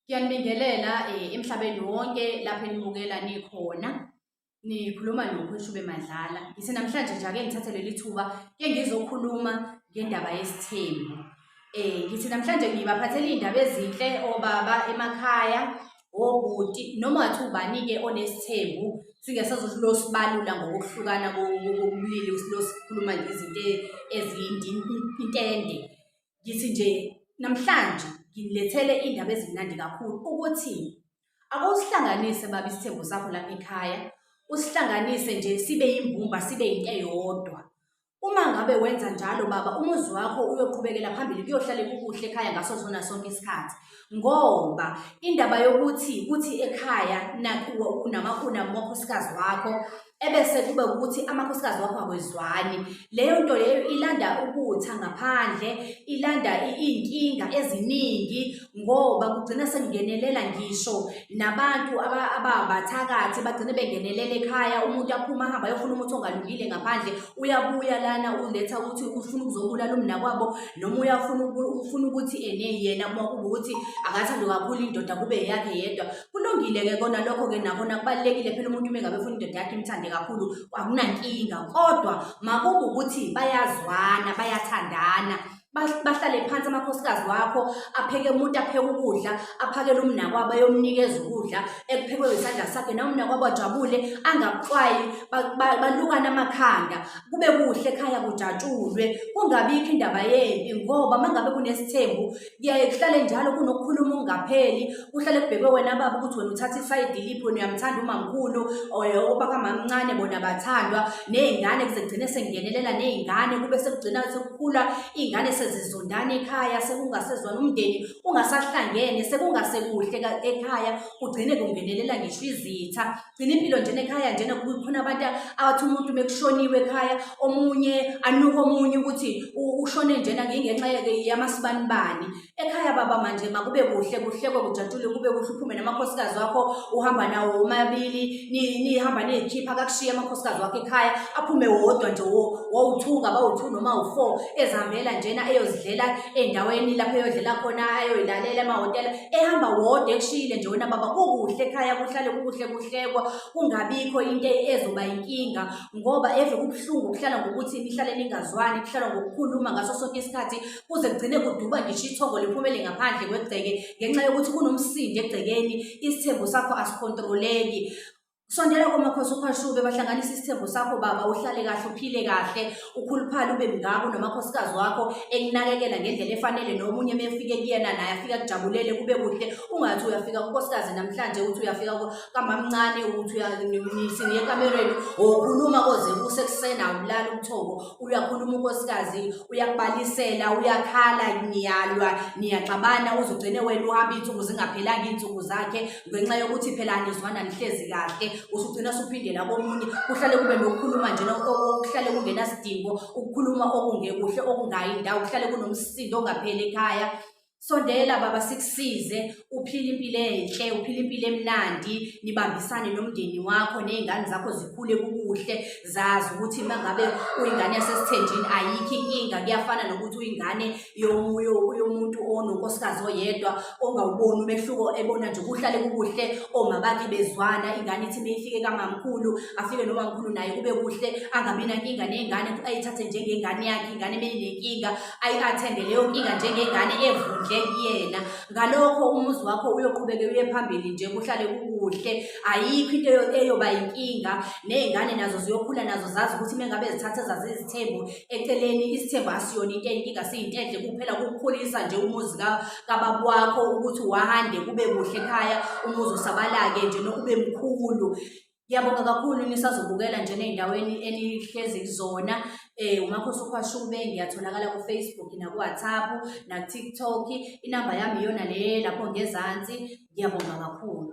Ngiyanibingelela eh, emhlabeni wonke lapho enibukela nikhona nikhuluma nokhweshube madlala ngise namhlanje nje ake ngithathe leli thuba ke ngizokhuluma ngendaba yesithembu eh ngithi namhlanje ngibaphathela iy'ndaba ezinhle obaba emakhaya obhuti noma wathi ubani-ke onesithembu singesazothi losibalula ngokuhlukana kobulili losikhuluma ngezinto eziyintende ngithi nje namhlanje ngilethele indaba ezimnandi kakhulu ukuthi akuwusihlanganise baba isithembu sakho lapha ekhaya usihlanganise nje sibe yimbumba sibe yinto eyodwa uma ngabe wenza njalo baba umuzi wakho uyoqhubekela phambili kuyohlale kukuhle ekhaya ngaso sona sonke isikhathi ngoba indaba yokuthi kuthi ekhaya nakuwe unamakhona umakhosikazi wakho ebese kube ukuthi amakhosikazi wakho akwezwani leyo nto leyo ilanda ukutha ngaphandle ilanda iy'nkinga eziningi ngoba kugcina sekungenelela ngisho nabantu ababathakathi bagcine bengenelela ekhaya umuntu aphuma ahamba ayofuna umuthi ongalungile ngaphandle uyabuya lana uletha ukuthi ufuna ukuzobulala umnakwabo noma uyafuna ufuna ukuthi ene yena uma kuba ukuthi akathando kakhulu indoda kube yakhe yedwa Kulungile-ke kona lokho-ke nakhona kubalulekile phela umuntu uma engabe efuna indoda yakhe imthande kakhulu akunankinga kodwa makuba ukuthi bayazwana bayathandana bahlale phansi amakhosikazi wakho apheke umuntu apheke ukudla aphakele umnakwabo ayomnikeza ukudla ekuphekwe isandla sakhe nawe umnakwabo ajabule angakuxwayi balukane amakhanda kube kuhle ekhaya kujatshulwe kungabikho indaba yempi ngoba uma ngabe kunesithembu kuyaye kuhlale njalo kunokukhuluma okungapheli kuhlale kubhekwe wena baba ukuthi wena uthatha isayidi liphi wena uyamthanda umamkhulu obakamamncane bona bathandwa ney'ngane kuze kugcine sengenelela ney'ngane kube sekugcina sekukhula iy'ngane sezizondana ekhaya sekungasezwana umndeni ungasahlangene sekungasekuhle ekhaya kugcine kungenelela ngisho izitha gcina impilo njena ekhaya njena khona abantu abathi umuntu mekushoniwe ekhaya omunye anuke omunye ukuthi ushone njena ngenxa yamasibanibani ekhaya baba manje makube kuhle kuhlekwe kujatshule kube kuhle uphume namakhosikazi wakho uhamba nawo womabili nihamba niyikhipha kakushiye amakhosikazi wakho ekhaya aphume wodwa nje wowu-two ngabawu-two noma wu-four ezihambela njena eyozidlela ey'ndaweni lapho eyodlela khona ayoyilalela emahhotela ehamba wodwa ekushiyile nje wena baba kukuhle ekhaya kuhlale kukuhle kuhlekwa kungabikho into ezoba inkinga ngoba eve kubuhlungu kuhlala ngokuthi nihlale ningazwani kuhlala ngokukhuluma ngaso sonke isikhathi kuze kugcine kuduba ngisho ithongo liphumele ngaphandle kwegceke ngenxa yokuthi kunomsindo egcekeni isithembu sakho asikhontroleki Sondela komakhosi ukhwashube bahlanganisa isithembu sakho baba uhlale kahle uphile kahle ukhuluphale ube mngako nomakhosikazi wakho ekunakekela ngendlela efanele nomunye mefike kuyena naye afika kujabulele kube kuhle ungathi uyafika kunkosikazi namhlanje uthi uyafika kamamncane uthi uyanisini ekamereni okhuluma koze kuse kusena ulala umthoko uyakhuluma unkosikazi uyakubalisela uyakhala niyalwa niyaxabana uzugcine wena uhamba insuku zingaphelanga insuku zakhe ngenxa yokuthi phela anizwana nihlezi kahle usugcina suphindela komunye kuhlale kube nokukhuluma njena okuhlale kungenasidingo ukukhuluma okungekuhle okungayi ndawo kuhlale kunomsindo ongapheli ekhaya sondela baba sikusize uphile impilo enhle uphile impilo emnandi nibambisane nomndeni wakho nezingane zakho zikhule kukuhle zazi ukuthi mangabe uyingane yasesithenjini ayikho inkinga kuyafana nokuthi uyingane yomuntu ononkosikazi oyedwa ongawuboni umehluko ebona nje kuhlale kukuhle oma bakhe bezwana ingane ithi meyifike kamamkhulu afike nomamkhulu naye kube kuhle angabi nankinga ney'ngane ayithathe njengengane yakhe ingane meyinenkinga ayi-athende leyo nkinga njengengane evundle kuyena ngalokho umuzi wakho uyoqhubeke uye phambili nje kuhlale kukuhle ayikho into eyoba yinkinga ney'ngane nazo ziyokhula nazo zazi ukuthi mengabe zithatha zazizithembu eceleni isithembu asiyona into enkinga siyinto enhle kuphela kukukhulisa nje umuzi kababa wakho ukuthi wahande kube kuhle ekhaya umuzi usabalake nje nokube mkhulu Ngiyabonga kakhulu nisazobukela nje nezindaweni enihlezi kuzona eh umakhosi ukhwashube ngiyatholakala ku Facebook na ku WhatsApp na TikTok inamba yami iyona le lapho ngezansi ngiyabonga kakhulu